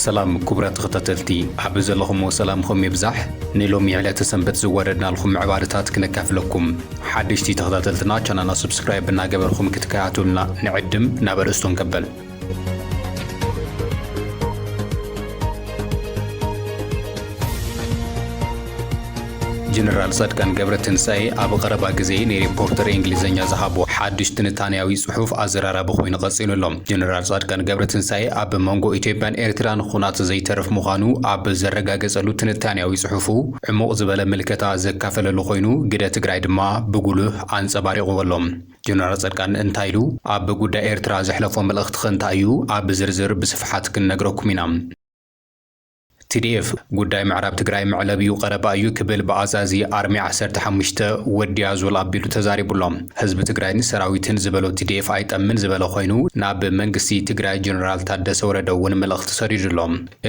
ሰላም ኩቡራት ተኸታተልቲ ኣብ ዘለኹሞ ሰላምኹም ይብዛሕ ንሎሚ ዕለተ ሰንበት ዝወረድናልኹም ምዕባለታት ክነካፍለኩም ሓደሽቲ ተኸታተልትና ቻናልና ስብስክራይብ እናገበርኹም ክትከታተሉና ንዕድም ናብ ኣርእስቶም ከበል ጀነራል ጻድቃን ገብረትንሳኤ ኣብ ቐረባ ግዜ ንሪፖርተር እንግሊዝኛ ዝሃቦ ሓዱሽ ትንታንያዊ ጽሑፍ ኣዘራራቢ ኮይኑ ቀጺሉ ኣሎ። ጀነራል ጻድቃን ገብረትንሳኤ ኣብ መንጎ ኢትዮጵያን ኤርትራን ኹናት ዘይተርፍ ምዃኑ ኣብ ዘረጋገጸሉ ትንታንያዊ ጽሑፉ ዕሙቕ ዝበለ ምልከታ ዘካፈለሉ ኮይኑ ግደ ትግራይ ድማ ብጉሉህ ኣንጸባሪቑዎ ኣሎ። ጀነራል ጸድቃን እንታይ ኢሉ? ኣብ ጉዳይ ኤርትራ ዘሕለፎ መልእኽትኸ እንታይ እዩ? ኣብ ዝርዝር ብስፍሓት ክንነግረኩም ኢና። TDF ጉዳይ ምዕራብ ትግራይ መዕለቢኡ ቀረባ እዩ ክብል ብኣዛዚ ኣርሚ ዓሰርተ ሓሙሽተ ወዲያ ዞል ኣቢሉ ተዛሪቡ ኣሎ። ህዝቢ ትግራይን ሰራዊትን ዝበሎ TDF ኣይጠምን ዝበለ ኮይኑ ናብ መንግስቲ ትግራይ ጀነራል ታደሰ ወረደ እውን መልእኽቲ ሰዲዱ ኣሎ።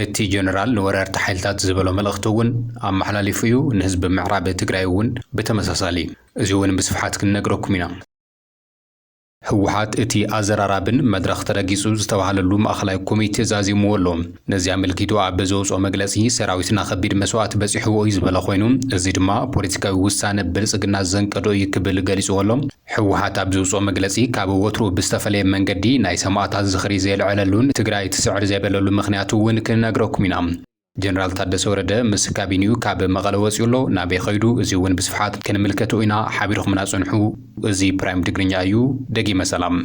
እቲ ጀነራል ንወረርቲ ሓይልታት ዝበሎ መልእኽቲ እውን ኣመሓላሊፉ እዩ። ንህዝቢ ምዕራብ ትግራይ እውን ብተመሳሳሊ። እዚ እውን ብስፍሓት ክንነግረኩም ኢና። ህወሓት እቲ ኣዘራራብን መድረኽ ተረጊፁ ዝተብሃለሉ ማእኸላይ ኮሚቴ ዛዚምዎ ኣሎ። ነዚ ኣመልኪቱ ኣብ ዘውፅኦ መግለፂ ሰራዊትና ከቢድ መስዋእቲ በፂሕዎ እዩ ዝበለ ኮይኑ እዚ ድማ ፖለቲካዊ ውሳነ ብልፅግና ዘንቀዶ እዩ ክብል ገሊፅዎ ኣሎ። ህወሓት ኣብ ዘውፅኦ መግለፂ ካብ ወትሩ ብዝተፈለየ መንገዲ ናይ ሰማእታት ዝኽሪ ዘየልዐለሉን ትግራይ ትስዕር ዘይበለሉ ምኽንያት እውን ክንነግረኩም ኢና። ጀነራል ታደሰ ወረደ ምስ ካቢኒኡ ካብ መቐለ ወጺኡ ኣሎ፣ ናበይ ከይዱ እዚ እውን ብስፍሓት ክንምልከቶ ኢና፣ ሓቢርኹምና ጽንሑ እዚ ፕራይም ትግርኛ እዩ፣ ደጊመ ሰላም።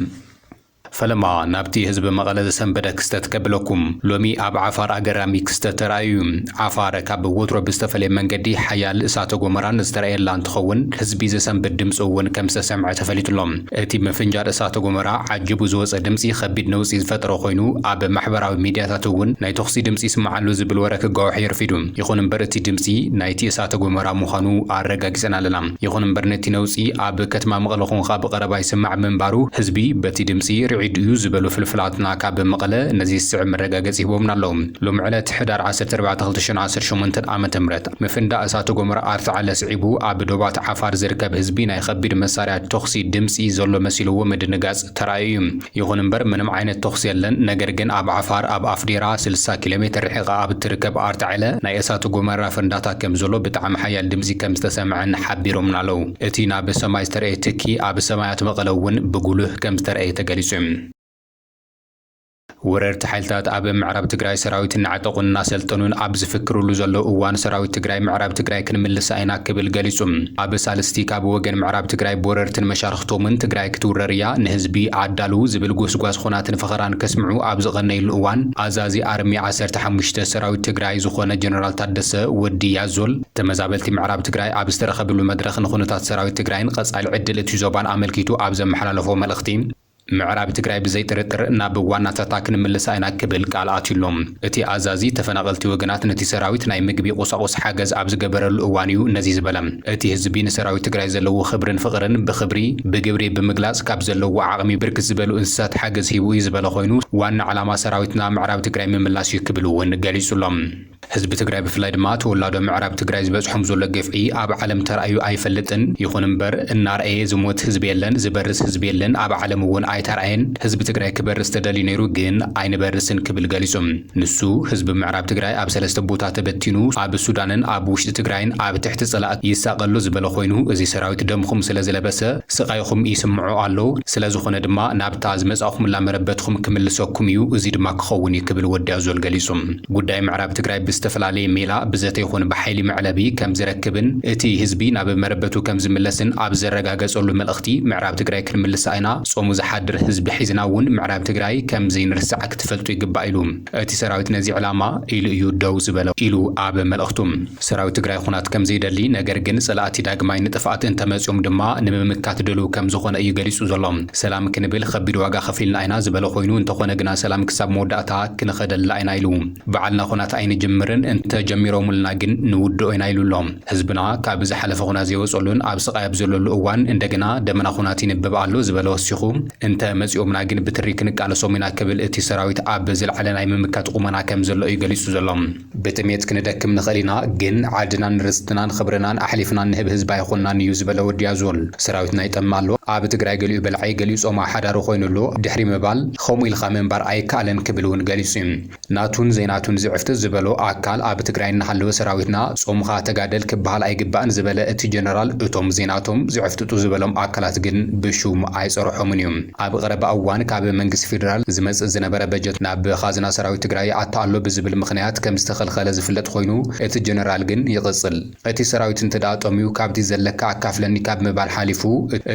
ፈለማ ናብቲ ህዝቢ መቐለ ዘሰንበደ ክስተት ከብለኩም። ሎሚ ኣብ ዓፋር ኣገራሚ ክስተት ተራእዩ እዩ። ዓፋር ካብ ወትሮ ብዝተፈለየ መንገዲ ሓያል እሳተ ጎመራን ዝተራእየላ እንትኸውን ህዝቢ ዘሰንብድ ድምፂ እውን ከምዝተሰምዐ ተፈሊጡ ኣሎ። እቲ ምፍንጃር እሳተ ጎመራ ዓጂቡ ዝወጸ ድምጺ ከቢድ ነውጺ ዝፈጠረ ኮይኑ፣ ኣብ ማሕበራዊ ሚድያታት እውን ናይ ተኹሲ ድምጺ ይስማዕ ኣሎ ዝብል ወረ ክጋዋሕ የርፊዱ። ይኹን እምበር እቲ ድምጺ ናይቲ እሳተ ጎመራ ምዃኑ ኣረጋጊጸን ኣለና። ይኹን እምበር ነቲ ነውጺ ኣብ ከትማ መቐለ ኮንኻ ብቐረባ ይስማዕ ምንባሩ ህዝቢ በቲ ድምጺ ርዒዱ እዩ ዝበሉ ፍልፍላትና ካብ መቐለ ነዚ ዝስዕብ መረጋገጺ ሂቦምና ኣለዉ። ሎሚ ዕለት ሕዳር ዓሰርተ ኣርባዕተ ክልተ ሽሕን ዓሰርተ ሸሞንተን ዓመተ ምህረት፣ ምፍንዳእ እሳተ ጎመራ ኣርታዕለ ስዒቡ ኣብ ዶባት ዓፋር ዝርከብ ህዝቢ ናይ ኸቢድ መሳርያ ቶኽሲ ድምጺ ዘሎ መሲልዎ ምድንጋጽ ተራእዩ'ዩ። ይኹን እምበር ምንም ዓይነት ቶኽሲ የለን። ነገር ግን ኣብ ዓፋር ኣብ ኣፍዴራ ስልሳ ኪሎ ሜትር ርሒቓ ኣብ እትርከብ ኣርታዕለ ናይ እሳተ ጎመራ ፍንዳታ ከም ዘሎ ብጣዕሚ ሓያል ድምጺ ከም ዝተሰምዐን ሓቢሮምና ኣለው። እቲ ናብ ሰማይ ዝተርኣየ ትኪ ኣብ ሰማያት መቐለ'ውን ብጉሉህ ከም ዝተርኣየ ተገሊጹ'ዩ። ወረርቲ ሓይልታት ኣብ ምዕራብ ትግራይ ሰራዊት እናዕጠቑን እናሰልጠኑን ኣብ ዝፍክርሉ ዘለዉ እዋን ሰራዊት ትግራይ ምዕራብ ትግራይ ክንምልሳ ኢና ክብል ገሊፁ። ኣብ ሳልስቲ ካብ ወገን ምዕራብ ትግራይ ብወረርትን መሻርኽቶምን ትግራይ ክትውረር እያ ንህዝቢ ኣዳልው ዝብል ጎስጓስ ኹናትን ፈኸራን ከስምዑ ኣብ ዝቐነይሉ እዋን ኣዛዚ ኣርሚ ዓሰርተ ሓሙሽተ ሰራዊት ትግራይ ዝኾነ ጀነራል ታደሰ፣ ወዲ ያዞል፣ ተመዛበልቲ ምዕራብ ትግራይ ኣብ ዝተረኸብሉ መድረኽ ንኹነታት ሰራዊት ትግራይን ቐፃሊ ዕድል እቲ ዞባን ኣመልኪቱ ኣብ ዘመሓላለፎ መልእኽቲ ምዕራብ ትግራይ ብዘይጥርጥር ናብ ዋናታታ ክንምልሳ ኢና ክብል ቃል ኣትዩ'ሎ። እቲ ኣዛዚ ተፈናቐልቲ ወገናት ነቲ ሰራዊት ናይ ምግቢ ቁሳቑስ ሓገዝ ኣብ ዝገበረሉ እዋን እዩ ነዚ ዝበለ። እቲ ህዝቢ ንሰራዊት ትግራይ ዘለዎ ኽብርን ፍቕርን ብኽብሪ ብግብሪ ብምግላፅ ካብ ዘለዎ ዓቕሚ ብርክት ዝበሉ እንስሳት ሓገዝ ሂቡ እዩ ዝበለ ኾይኑ ዋና ዕላማ ሰራዊትና ምዕራብ ትግራይ ምምላስ እዩ ክብል እውን ገሊፁ'ሎ። ህዝቢ ትግራይ ብፍላይ ድማ ተወላዶ ምዕራብ ትግራይ ዝበፅሖም ዘሎ ግፍዒ ኣብ ዓለም ተራእዩ ኣይፈልጥን። ይኹን እምበር እናርኣየ ዝሞት ህዝቢ የለን፣ ዝበርስ ህዝቢ የለን፣ ኣብ ዓለም እውን ኣይተርኣየን። ህዝቢ ትግራይ ክበርስ ተደልዩ ነይሩ ግን ኣይንበርስን ክብል ገሊፁ። ንሱ ህዝቢ ምዕራብ ትግራይ ኣብ ሰለስተ ቦታ ተበቲኑ ኣብ ሱዳንን ኣብ ውሽጢ ትግራይን ኣብ ትሕቲ ፀላእቲ ይሳቐ ኣሎ ዝበለ ኮይኑ እዚ ሰራዊት ደምኹም ስለዝለበሰ ስቓይኹም ይስምዖ ኣሎ። ስለዝኾነ ድማ ናብታ ዝመፃእኹምላ መረበትኹም ክምልሰኩም እዩ፣ እዙይ ድማ ክኸውን እዩ ክብል ወዲ ኣዞል ገሊፁ። ጉዳይ ምዕራብ ትግራይ ብዝተፈላለየ ሜላ ብዘተ ይኹን ብሓይሊ መዕለቢ ከምዝረክብን እቲ ህዝቢ ናብ መረበቱ ከምዝምለስን ኣብ ዘረጋገፀሉ መልእኽቲ ምዕራብ ትግራይ ክንምልሳ ኢና፣ ፆሙ ዝሓድር ህዝቢ ሒዝና እውን ምዕራብ ትግራይ ከምዘይንርስዓ ክትፈልጡ ይግባእ ኢሉ። እቲ ሰራዊት ነዚ ዕላማ ኢሉ እዩ ደው ዝበለ ኢሉ ኣብ መልእኽቱ። ሰራዊት ትግራይ ኹናት ከምዘይደሊ ነገር ግን ፀላእቲ ዳግማይ ንጥፍኣት እንተመፅዮም ድማ ንምምካት ድልው ከምዝኾነ እዩ ገሊፁ ዘሎ። ሰላም ክንብል ኸቢድ ዋጋ ኸፊልና ኢና ዝበለ ኾይኑ እንተኾነ ግና ሰላም ክሳብ መወዳእታ ክንኸደላ ኢና ኢሉ። ብዓልና ኹናት ኣይንጅምርን እንተ ጀሚሮምልና ግን ንውድኦ ኢና ኢሉ ኣሎ። ህዝብና ካብ ዝሓለፈ ኹናት ዘይወፀሉን ኣብ ስቓይ ኣብ ዘለሉ እዋን እንደገና ደመና ኹናት ይንብብ ኣሎ ዝበለ ወሲኹ እንተ መፂኦምና ግን ብትሪ ክንቃለሶም ኢና ክብል እቲ ሰራዊት ኣብ ዝለዓለ ናይ ምምካት ቑመና ከም ዘሎ እዩ ገሊፁ ዘሎ። ብጥሜት ክንደክም ንኽእል ኢና ግን ዓድናን ርስትናን ኽብርናን ኣሕሊፍና እንህብ ህዝቢ ኣይኾንናን እዩ ዝበለ ወዲ ኣዞል ሰራዊትና ይጠምእ ኣሎ ኣብ ትግራይ ገሊኡ በላዒ ገሊኡ ፆማ ሓዳሪ ኾይኑ ኣሎ ድሕሪ ምባል ኸምኡ ኢልኻ ምንባር ኣይካኣልን ክብል እውን ገሊፁ እዩ ናቱን ዘይናቱን ዝዕፍጥጥ ዝበሎ ኣካል ኣብ ትግራይ እናሃለወ ሰራዊትና ፆምኻ ተጋደል ክባሃል ኣይግባእን ዝበለ እቲ ጀነራል እቶም ዘይናቶም ዝዕፍጥጡ ዝበሎም ኣካላት ግን ብሹም ኣይፀረሖምን እዩ ኣብ ቐረባ እዋን ካብ መንግስቲ ፌደራል ዝመፅእ ዝነበረ በጀት ናብ ኻዝና ሰራዊት ትግራይ ይኣቱ ኣሎ ብዝብል ምኽንያት ከምዝተኸልኸለ ዝፍለጥ ኾይኑ እቲ ጀነራል ግን ይቕፅል እቲ ሰራዊት እንተድኣ ጠምዩ ካብቲ ዘለካ ኣካፍለኒ ካብ ምባል ሓሊፉ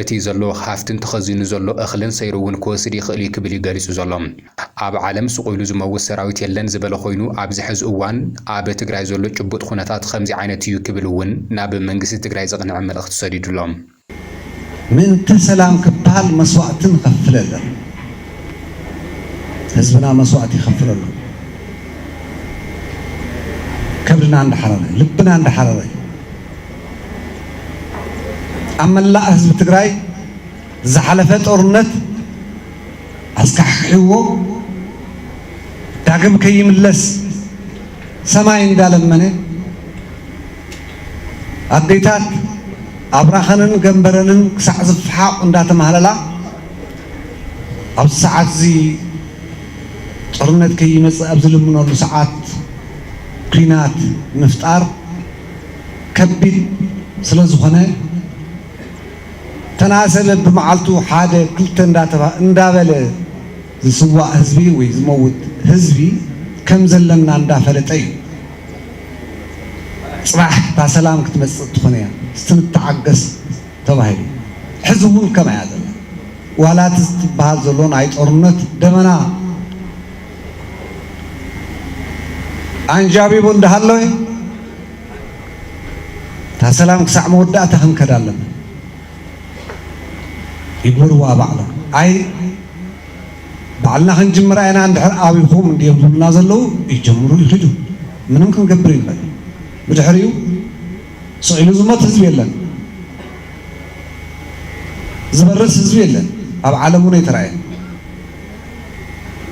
እቲ ዘለዎ ሃፍትን ተኸዚኑ ዘሎ እኽልን ሰይሩ እውን ክወስድ ይኽእል እዩ ክብል እዩ ገሊፁ ዘሎ። ኣብ ዓለም ስቑኢሉ ዝመውት ሰራዊት የለን ዝበለ ኾይኑ ኣብዚ ሐዚ እዋን ኣብ ትግራይ ዘሎ ጭቡጥ ኹነታት ኸምዚ ዓይነት እዩ ክብል እውን ናብ መንግስቲ ትግራይ ዘቕንዐ መልእኽቲ ሰዲዱሎም። ምእንተ ሰላም ክበሃል መስዋእቲ ንኸፍል ኣለና። ህዝብና መስዋእቲ ይኸፍል ኣሎ። ከብድና እንዳሓረረ እዩ። ልብና እንዳሓረረ እዩ። ኣብ መላእ ህዝቢ ትግራይ ዝሓለፈ ጦርነት ኣስካሕኪሕዎ ዳግም ከይምለስ ሰማይ እንዳለመነ ኣዴታት ኣብራኸንን ገምበረንን ክሳዕ ዝፈሓቑ እንዳተማህለላ ኣብዚ ሰዓት እዚ ጦርነት ከይመፅእ ኣብ ዝልምነሉ ሰዓት ኲናት ምፍጣር ከቢድ ስለዝኾነ ተናሰበ ብመዓልቱ ሓደ ክልተ እንዳበለ ዝስዋእ ህዝቢ ወይ ዝመውት ህዝቢ ከም ዘለና እንዳ ፈለጠ እዩ ጽባሕ እታ ሰላም ክትመጽእ ትኾን እያ እስቲ ንተዓገስ ተባሂሉ ሕዚ ውን ከምኣ እያ ዘላ ዋላ እቲ ዝትብሃል ዘሎ ናይ ጦርነት ደመና ኣንጃቢቡ እንዳ ሃለወ እታ ሰላም ክሳዕ መወዳእታ ክንከዳ ኣለና። ይግበርዋ ባዕሎም ኣይ ባዕልና ክንጅምራ ኢና እንድሕር ኣቢኹም እንድዮም ዝብሉና ዘለዉ ይጀምሩ ይኺዱ ምንም ክንገብር ይንኽእል ብድሕሪኡ ስቕ ኢሉ ዝሞት ህዝቢ የለን ዝበርስ ህዝቢ የለን ኣብ ዓለም እውን ኣይተራእየን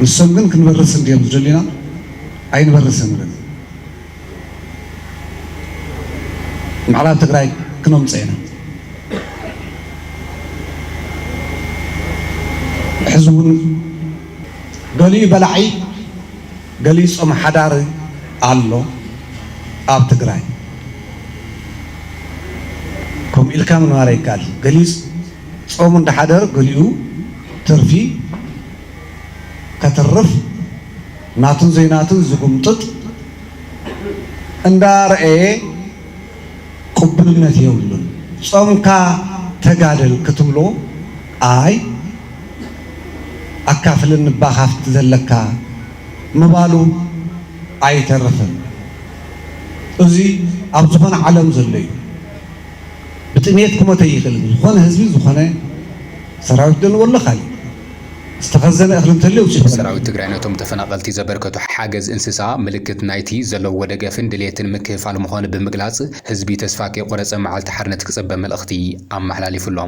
ንሶም ግን ክንበርስ እንድዮም ዝደልዩና ኣይንበርስን ግን ምዕራብ ትግራይ ክነምፆ ኢና ሕዚ እውን ገሊኡ በላዒ ገሊኡ ፆም ሓዳሪ ኣሎ ኣብ ትግራይ ከምኡ ኢልካ ምንባር ኣይከኣል ገሊኡ ፆሙ እንዳሓደር ገሊኡ ትርፊ ከትርፍ ናቱን ዘይናቱን ዝጉምጥጥ እንዳ ረኣየ ቁቡልነት የብሉን ጾምካ ተጋደል ክትብሎ ኣይ ኣካፍልን እባ ካብቲ ዘለካ ምባሉ ኣይተርፍን እዚ ኣብ ዝኾነ ዓለም ዘሎ እዩ ብጥምየት ክሞት ኣይኽእልን ዝኾነ ህዝቢ ዝኾነ ሰራዊት ደልዎ ኣሎ ካሊእ ዝተኸዘነ እኽሊ እንተልዩ ኣውፅእሉ በል። ሰራዊት ትግራይ ነቶም ተፈናቐልቲ ዘበርከቶ ሓገዝ እንስሳ ምልክት ናይቲ ዘለውዎ ደገፍን ድልየትን ምክፍፋል ምዃኑ ብምግላፅ ህዝቢ ተስፋ ከይቖረፀ መዓልቲ ሓርነት ክፅበ መልእኽቲ ኣመሓላሊፉ'ሎ።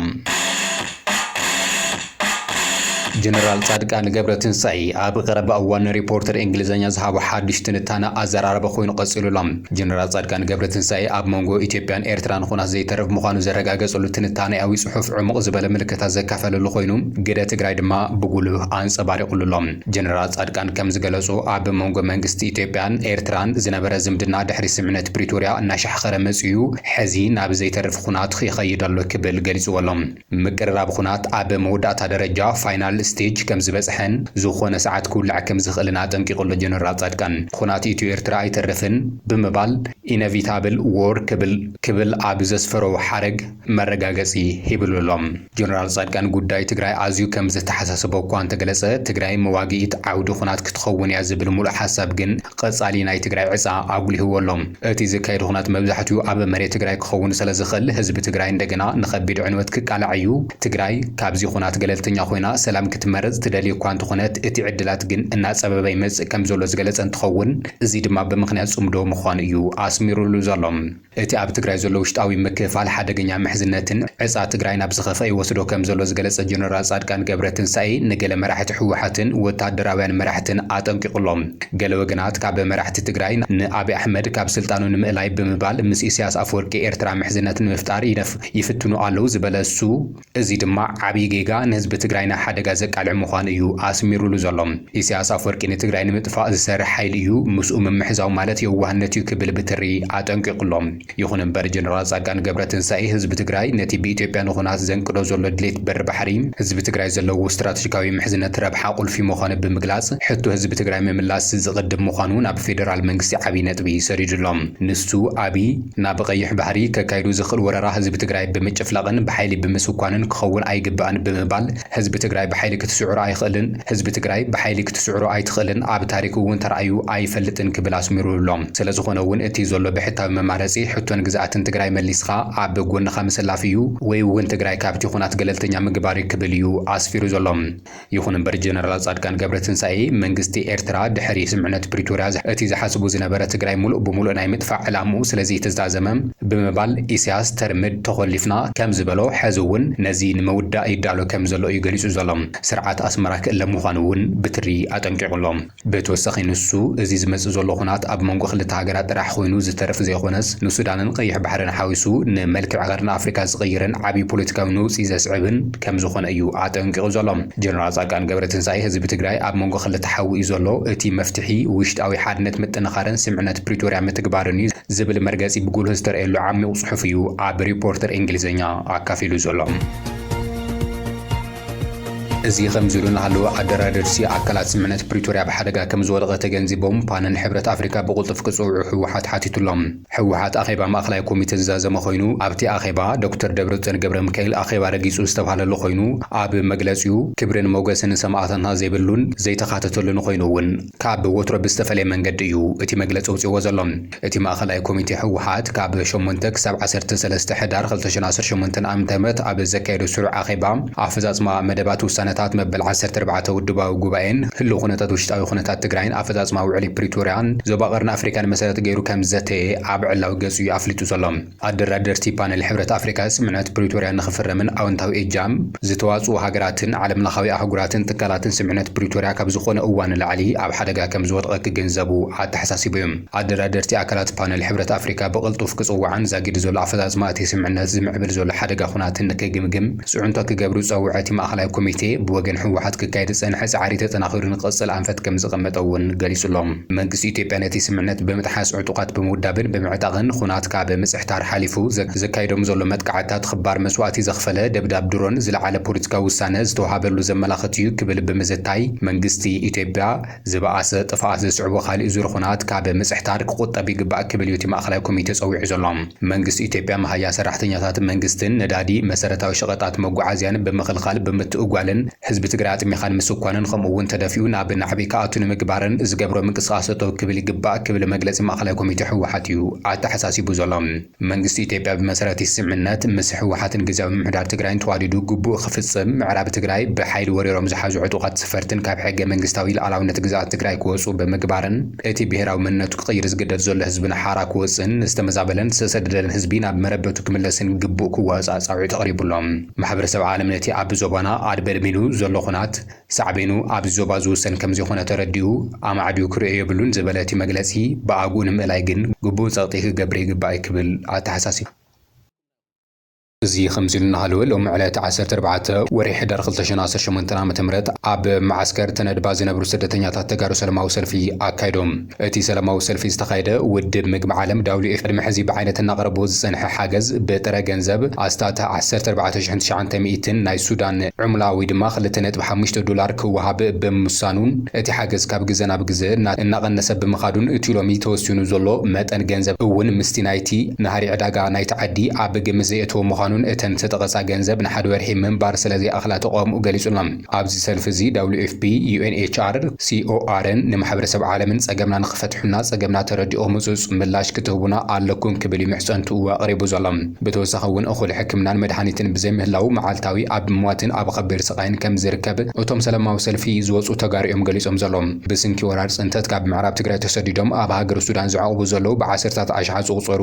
ጀነራል ፃድቃን ገብረትንሳኤ ኣብ ቐረባ እዋን ንሪፖርተር እንግሊዘኛ ዝሃቦ ሓዱሽ ትንታነ ኣዘራራቢ ኮይኑ ቐፂሉ'ሎ። ጀነራል ጻድቃን ገብረትንሳኤ ኣብ መንጎ ኢትዮጵያን ኤርትራን ኹናት ዘይተርፍ ምዃኑ ዘረጋገጸሉ ትንታኔኣዊ ጽሑፍ ዕሙቕ ዝበለ ምልከታ ዘካፈለሉ ኮይኑ ግደ ትግራይ ድማ ብጉሉህ ኣንጸባሪቑሉ ኣሎ። ጀነራል ጻድቃን ከም ዝገለጾ ኣብ መንጎ መንግስቲ ኢትዮጵያን ኤርትራን ዝነበረ ዝምድና ድሕሪ ስምምዕነት ፕሪቶርያ እናሻሕኸረ መጺኡ ሐዚ ናብ ዘይተርፍ ኹናት ይኸይድ ኣሎ ክብል ገሊጽዎ ኣሎ። ምቅርራብ ኹናት ኣብ መወዳእታ ደረጃ፣ ፋይናል ስቴጅ፣ ከምዝበጽሐን ዝኾነ ሰዓት ክውላዕ ከምዝኽእልን ኣጠንቂቑ ኣሎ ጀነራል ጻድቃን። ኹናት ኢትዮ ኤርትራ ኣይተርፍን ብምባል ኢነቪታብል ዎር ክብል ክብል ኣብ ዘስፈሮ ሓረግ መረጋገጺ ሂብሉ ኣሎ። ጀነራል ጻድቃን ጉዳይ ትግራይ ኣዝዩ ከምዘተሓሳሰቦ እኳ እንተገለጸ፣ ትግራይ መዋግኢት ዓውዲ ኹናት ክትኸውን እያ ዝብል ሙሉእ ሓሳብ ግን ቐፃሊ ናይ ትግራይ ዕፃ ኣጉሊህዎ ኣሎ። እቲ ዝካየድ ኹናት መብዛሕቲኡ ኣብ መሬት ትግራይ ክኸውን ሰለዝኽእል ህዝቢ ትግራይ እንደገና ንኸቢድ ዕንወት ክቃላዕ እዩ። ትግራይ ካብዚ ኹናት ገለልተኛ ኾይና ሰላም ክትመርፅ ትደልይ እኳ እንተኾነት እቲ ዕድላት ግን እናፀበበ ይመፅእ ከምዘሎ ዝገለፀ እንትኸውን እዚ ድማ ብምኽንያት ፅምዶ ምዃኑ እዩ ኣስሚሩሉ ዘሎ። እቲ ኣብ ትግራይ ዘሎ ውሽጣዊ ምክፍፋል ሓደገኛ ምሕዝነትን ዕፃ ትግራይ ናብ ዝኸፍኣ ይወስዶ ከምዘሎ ዝገለፀ ጀነራል ፃድቃን ገብረትንሳኤ ንገለ መራሕቲ ህወሓትን ወታደራውያን መራሕትን ኣጠንቂቑ ኣሎ። ገለ ወገናት ካብ መራሕቲ ትግራይ ንኣብይ ኣሕመድ ካብ ስልጣኑ ንምእላይ ብምባል ምስ ኢሳያስ ኣፈወርቂ ኤርትራ ምሕዝነት ንምፍጣር ይፍትኑ ኣለው ዝበለ እሱ፣ እዚ ድማ ዓብይ ጌጋ ንህዝቢ ትግራይ ናብ ሓደጋ ዘቃልዕ ምዃኑ እዩ ኣስሚሩሉ ዘሎ። ኢሳያስ ኣፍወርቂ ንትግራይ ንምጥፋእ ዝሰርሕ ሓይሊ እዩ፣ ምስኡ ምምሕዛው ማለት የዋህነት እዩ ክብል ብትሪ ኣጠንቂቑ ኣሎ። ይኹን እምበር ጀነራል ፃድቃን ገብረትንሳኤ ህዝቢ ትግራይ ነቲ ብኢትዮጵያ ንኹናት ዘንቅዶ ዘሎ ድሌት በሪ ባሕሪ ህዝቢ ትግራይ ዘለዎ ስትራተጂካዊ ምሕዝነት ረብሓ ቁልፊ ምዃኑ ብምግላፅ ሕቶ ህዝቢ ትግራይ ምምላስ ዝቕድም ምዃኑ ናብ ፌደራል መንግስቲ ዓብይ ነጥቢ ሰዲዱ ኣሎ። ንሱ፣ ኣብይ፣ ናብ ቐይሕ ባሕሪ ከካይዱ ዝኽእል ወረራ ህዝቢ ትግራይ ብምጭፍላቕን ብሓይሊ ብምስኳንን ክኸውን ኣይግባእን ብምባል ህዝቢ ትግራይ ብሓይሊ ክትስዕሮ ኣይኽእልን ህዝቢ ትግራይ ብሓይሊ ክትስዕሮ ኣይትኽእልን ኣብ ታሪክ እውን ተራእዩ ኣይፈልጥን ክብል ኣስሚሩሉ'ሎ ስለዝኾነ እውን እቲ ዘሎ ብሕታዊ መማረፂ ሕቶን ግዝኣትን ትግራይ መሊስኻ ኣብ ጎንኻ ምስላፍ እዩ ወይ'ውን ትግራይ ካብቲ ኹናት ገለልተኛ ምግባር እዩ ክብል እዩ ኣስፊሩ ዘሎ። ይኹን እምበር ጀነራል ፃድቃን ገብረትንሳኤ መንግስቲ ኤርትራ ድሕሪ ስምምዕነት ፕሪቶርያ እቲ ዝሓስቡ ዝነበረ ትግራይ ሙሉእ ብሙሉእ ናይ ምጥፋእ ዕላምኡ ስለዘይተዛዘመ ብምባል ኢሳያስ ተርምድ ተኾሊፍና ከምዝበሎ ሐዚ እውን ነዚ ንምውዳእ ይዳሎ ከምዘሎ እዩ ገሊፁ ዘሎ። ስርዓት ኣስመራ ክእለ ምዃኑ እውን ብትሪ ኣጠንቂቑ ኣሎ። ብተወሳኺ ንሱ፣ እዚ ዝመጽእ ዘሎ ኹናት ኣብ መንጎ ክልተ ሃገራት ጥራሕ ኹይኑ ዝተርፍ ዘይኾነስ ንሱዳንን ቐይሕ ባሕርን ሓዊሱ ንመልክዕ ቐርኒ ኣፍሪካ ዝቕይርን ዓብይ ፖለቲካዊ ነውጺ ዘስዕብን ከምዝኾነ እዩ ኣጠንቂቑ ዘሎ ጀነራል ፃድቃን ገብረትንሳኤ። ህዝቢ ትግራይ ኣብ መንጎ ክልተ ሓዊ እዩ ዘሎ፣ እቲ መፍትሒ ውሽጣዊ ሓድነት ምጥንኻርን ስምዕነት ፕሪቶርያ ምትግባርን እዩ ዝብል መርገፂ ብጉልህ ዝተርኣየሉ ዓሚቝ ፅሑፍ እዩ ኣብ ሪፖርተር እንግሊዝኛ ኣካፊሉ ዘሎ። እዚ ከምዚ ኢሉ እናሃለወ ኣደራደርቲ ኣካላት ስምምዕነት ፕሪቶርያ ኣብ ሓደጋ ከምዝወደቐ ተገንዚቦም ፓነል ሕብረት ኣፍሪካ ብቕልጡፍ ክፅውዑ ህወሓት ሓቲቱ ኣሎ። ህወሓት ኣኼባ ማእኸላይ ኮሚቴ ዝዛዘመ ኾይኑ ኣብቲ ኣኼባ ዶክተር ደብረፅዮን ገብረምካኤል ኣኼባ ረጊፁ ዝተብሃለሉ ኾይኑ ኣብ መግለፂኡ ክብርን ሞገስን ንሰማእታትና ዘይብሉን ዘይተኻተተሉን ኾይኑ እውን ካብ ወትሮ ብዝተፈለየ መንገዲ እዩ እቲ መግለፂ ኣውፂእዎ ዘሎ። እቲ ማእኸላይ ኮሚቴ ህወሓት ካብ ሸሞንተ ክሳብ ዓሰርተ ሰለስተ ሕዳር ክልተ ሽሕን ዓሰርተ ሸሞንተን ዓመተ ምህረት ኣብ ዘካየዶ ስሩዕ ኣኼባ ኣፈፃፅማ መደባት ውሳነታት መበል ዓሰርተ ኣርባዕተ ውድባዊ ጉባኤን ህልው ኩነታት ውሽጣዊ ኩነታት ትግራይን ኣፈፃፅማ ውዕሊ ፕሪቶርያን ዞባ ቀርኒ ኣፍሪካን መሰረት ገይሩ ከምዝዘተየ ኣብ ዕላዊ ገፁ እዩ ኣፍሊጡ ዘሎ። ኣደራደርቲ ፓነል ሕብረት ኣፍሪካ ስምምዕነት ፕሪቶርያ ንክፍረምን ኣወንታዊ እጃም ዝተዋፅኡ ሃገራትን ዓለምለኻዊ ኣህጉራትን ትካላትን ስምምዕነት ፕሪቶርያ ካብ ዝኾነ እዋን ንላዕሊ ኣብ ሓደጋ ከምዝወድቐ ክግንዘቡ ኣተሓሳሲቡ እዩ። ኣደራደርቲ ኣካላት ፓነል ሕብረት ኣፍሪካ ብቕልጡፍ ክፅዋዕን ዛጊድ ዘሎ ኣፈፃፅማ እቲ ስምምዕነት ዝምዕብል ዘሎ ሓደጋ ኹናትን ንክግምግም ፅዕንቶ ክገብሩ ዝፀውዐ እቲ ማእኸላይ ኮሚቴ ብወገን ህወሓት ክካየድ ዝፀንሐ ፃዕሪ ተጠናኺሩ ንክቕፅል ኣንፈት ከምዝቐመጠ እውን ገሊፁ'ሎ። መንግስቲ ኢትዮጵያ ነቲ ስምምዕነት ብምጥሓስ ዕጡቓት ብምውዳብን ብምዕጣቕን ኹናት ካብ ምጽሕታር ሓሊፉ ዘካይዶም ዘሎ መጥቃዕትታት ኽባር መስዋእቲ ዘኽፈለ ደብዳብ ድሮን ዝለዓለ ፖለቲካዊ ውሳነ ዝተውሃበሉ ዘመላኽት እዩ ክብል ብምዝታይ መንግስቲ ኢትዮጵያ ዝበኣሰ ጥፍኣት ዘስዕቦ ኻሊእ ዙር ኹናት ካብ ምጽሕታር ክቑጠብ ይግባእ ክብል እዩ እቲ ማእኸላይ ኮሚቴ ፀዊዑ ዘሎ። መንግስቲ ኢትዮጵያ መሃያ ሰራሕተኛታት መንግስትን ነዳዲ፣ መሰረታዊ ሸቐጣት መጓዓዝያን ብምኽልኻል ብምትእጓልን፣ ህዝቢ ትግራይ ኣጥሚኻ ንምስኳንን ከምኡ እውን ተደፊኡ ናብ ናዕቢ ክኣቱ ንምግባርን ዝገብሮ ምንቅስቓስ ጠጠው ክብል ይግባእ ክብል መግለፂ ማእኸላይ ኮሚቴ ህወሓት እዩ ኣተሓሳሲቡ ዘሎ። መንግስቲ ኢትዮጵያ ብመሰረት ስምምነት ምስ ህወሓትን ግዝያዊ ምምሕዳር ትግራይን ተዋዲዱ ግቡኡ ክፍፅም፣ ምዕራብ ትግራይ ብሓይሊ ወሪሮም ዝሓዙ ዕጡቓት ስፈርትን ካብ ሕገ መንግስታዊ ልኣላውነት ግዝኣት ትግራይ ክወፁ ብምግባርን፣ እቲ ብሄራዊ መንነቱ ክቕይር ዝግደድ ዘሎ ህዝብና ሓራ ክወጽእን ዝተመዛበለን ዝተሰደደን ህዝቢ ናብ መረበቱ ክምለስን ግቡእ ክዋጻእ ጻውዒት ኣቕሪቡ ኣሎ። ማሕበረሰብ ዓለም ነቲ ኣብ ዞባና ኣድበድቢኑ ዘሎ ኹናት ሳዕቤኑ ኣብዚ ዞባ ዝውሰን ከምዘይኮነ ተረዲኡ ኣማዕድዩ ክርእዮ የብሉን ዝበለ እቲ መግለጺ ብኣግኡ ንምእላይ ግን ግቡእ ጸቕጢ ክገብር ይግባእ'ዩ ክብል ኣተሓሳሲቡ። እዚ ከምዚሉ እናሃለወ ሎሚ ዕለት ዓሰርተ ኣርባዕተ ወርሒ ሕዳር ክልተ ሽሕን ዓሰርተ ሸሞንተን ዓመተ ምህረት ኣብ መዓስከር ተነድባ ዝነብሩ ስደተኛታት ተጋሩ ሰለማዊ ሰልፊ ኣካይዶም። እቲ ሰለማዊ ሰልፊ ዝተኻየደ ውድብ ምግቢ ዓለም፣ WFP፣ ቅድሚ ሕዚ ብዓይነት እናቕረቦ ዝፀንሐ ሓገዝ ብጥረ ገንዘብ ኣስታት ዓሰርተ ኣርባዕተ ሽሕን ትሽዓንተ ሚእትን ናይ ሱዳን ዑምላ ወይ ድማ ክልተ ነጥቢ ሓሙሽተ ዶላር ክወሃብ ብምሳኑን እቲ ሓገዝ ካብ ግዘ ናብ ግዘ እናቐነሰ ብምኻዱን እቲ ሎሚ ተወሲኑ ዘሎ መጠን ገንዘብ እውን ምስቲ ናይቲ ናህሪ ዕዳጋ እቲ ዓዲ ኣብ ግምት ዘየእተወ ምዃኑን እተን ዝተጠቐሳ ገንዘብ ንሓደ ወርሒ ምንባር ስለዘይኣኽላ ተቓውምኡ ገሊጹ'ሎ። ኣብዚ ሰልፊ እዚ WFP፣ UNHR፣ COR ን ንማሕበረሰብ ዓለምን ጸገምና ንኽፈትሑና ጸገምና ተረዲእኹም ህጹጽ ምላሽ ክትህቡና ኣለኩም ክብል እዩ ምሕጸንትኡ ኣቕሪቡ ዘሎ። ብተወሳኺ እውን እኹል ሕክምናን መድሃኒትን ብዘይምህላዉ መዓልታዊ ኣብ ሟትን ኣብ ኸቢድ ስቓይን ከምዝርከብ እቶም ሰለማዊ ሰልፊ ዝወጹ ተጋሩ እዮም ገሊጾም ዘሎው። ብስንኪ ወራር ጽንተት ካብ ምዕራብ ትግራይ ተሰዲዶም ኣብ ሃገረ ሱዳን ዝዕቕቡ ዘሎው ብዓሰርታት ኣሽሓት ዝቑጸሩ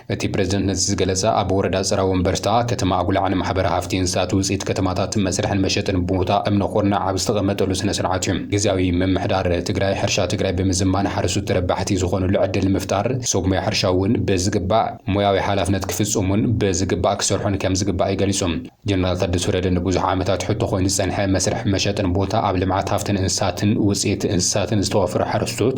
እቲ ፕረዚደንት ነዚ ዝገለፀ ኣብ ወረዳ ፅረ ወንበርታ ከተማ ኣጉላዕ ንማሕበረ ሃፍቲ እንስሳት ውፅኢት ከተማታት መስርሕን መሸጥን ቦታ እምኒ ኩርናዕ ኣብ ዝተቐመጠሉ ስነ ስርዓት እዩ። ግዝያዊ ምምሕዳር ትግራይ ሕርሻ ትግራይ ብምዝማን ሓረስቶት ተረባሕቲ ዝኾኑሉ ዕድል ንምፍጣር ሰብ ሞያ ሕርሻ እውን ብዝግባእ ሞያዊ ሓላፍነት ክፍፅሙን ብዝግባእ ክሰርሑን ከምዝግባእ እዩ ገሊፁ። ጀነራል ታደሰ ወረደ ንብዙሕ ዓመታት ሕቶ ኮይኑ ዝፀንሐ መስርሕ መሸጥን ቦታ ኣብ ልምዓት ሃፍትን እንስሳትን ውፅኢት እንስሳትን ዝተዋፈሩ ሓረስቶት፣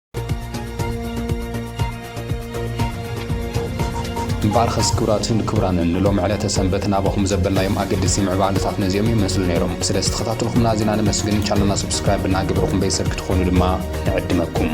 እምበኣርከስ ክብራትን ክብራንን ንሎሚ ዕለተ ሰንበት ናባኹም ዘበልናዮም ኣገድሲ ምዕባለታት ነዚኦም ይመስሉ ነይሮም። ስለ ዝተኸታተልኹምና ኣዚና ነመስግን። ቻነልና ሰብስክራይብ እናገበርኩም ቤተሰብ ክትኾኑ ድማ ንዕድመኩም።